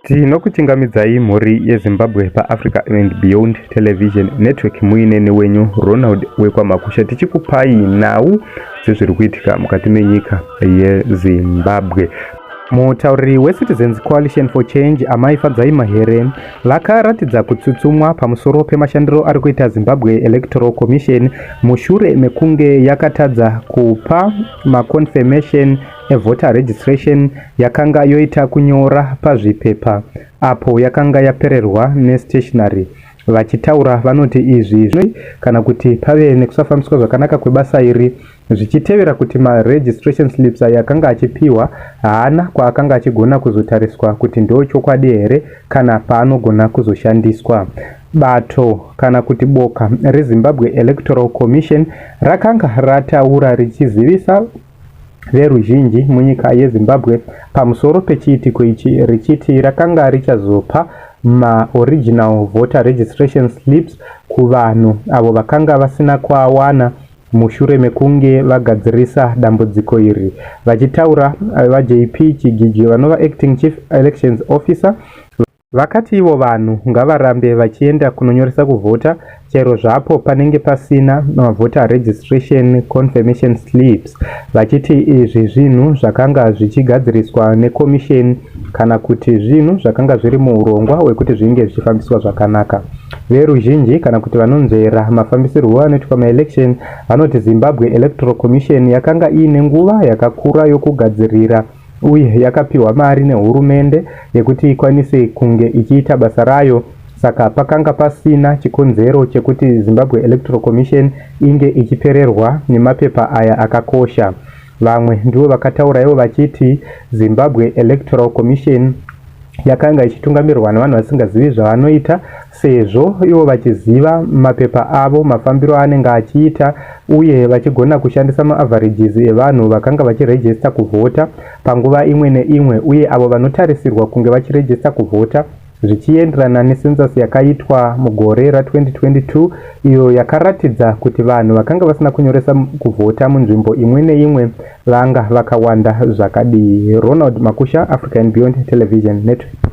Tinokuchingamidzai mhuri yeZimbabwe paAfrica and Beyond Television Network muine newenyu Ronald wekwaMakusha tichikupai nhau dzezviri kuitika mukati menyika yeZimbabwe. Mutauriri weCitizens Coalition for Change, Amai Fadzai Mahere, vakaratidza kutsutsumwa pamusoro pemashandiro ari kuita Zimbabwe Electoral Commission mushure mekunge yakatadza kupa maconfirmation evoter registration yakanga yoita kunyora pazvipepa apo yakanga yapererwa nestationary vachitaura vanoti izvi zvi kana kuti pave nekusafambiswa zvakanaka kwebasa iri zvichitevera kuti maregistration slips ayo akanga achipiwa haana kwaakanga achigona kuzotariswa kuti ndo chokwadi here kana paanogona kuzoshandiswa bato kana kuti boka rezimbabwe electoral commission rakanga rataura richizivisa veruzhinji munyika yezimbabwe pamusoro pechiitiko ichi richiti rakanga richazopa maoriginal voter registration slips kuvanhu avo vakanga vasina kuawana mushure mekunge vagadzirisa dambudziko iri vachitaura vajp chigiji vanova acting chief elections officer Vakati ivo vanhu ngavarambe vachienda kunonyoresa kuvhota chero zvapo panenge pasina mavhota registration confirmation slips vachiti izvi zvinhu zvakanga zvichigadziriswa nekomisheni kana kuti zvinhu zvakanga zviri muurongwa wekuti zvinge zvichifambiswa zvakanaka. Veruzhinji kana kuti vanonzvera mafambisirwo anoitwa maelection vanoti Zimbabwe Electoral Commission yakanga iine nguva yakakura yokugadzirira uye yakapiwa mari nehurumende yekuti ikwanise kunge ichiita basa rayo saka pakanga pasina chikonzero chekuti Zimbabwe Electoral Commission inge ichipererwa nemapepa aya akakosha. Vamwe ndivo vakatauraiwo vachiti Zimbabwe Electoral Commission yakanga ichitungamirwa nevanhu vasingazivi zvavanoita sezvo ivo vachiziva mapepa avo, mafambiro aanenge achiita uye vachigona kushandisa maaverages evanhu vakanga vachirejesta kuvhota panguva imwe neimwe uye avo vanotarisirwa kunge vachirejesta kuvhota zvichienderana nesensasi yakaitwa mugore ra2022 iyo yakaratidza kuti vanhu vakanga vasina kunyoresa kuvhota munzvimbo imwe neimwe vanga vakawanda zvakadii ronald makusha african beyond television network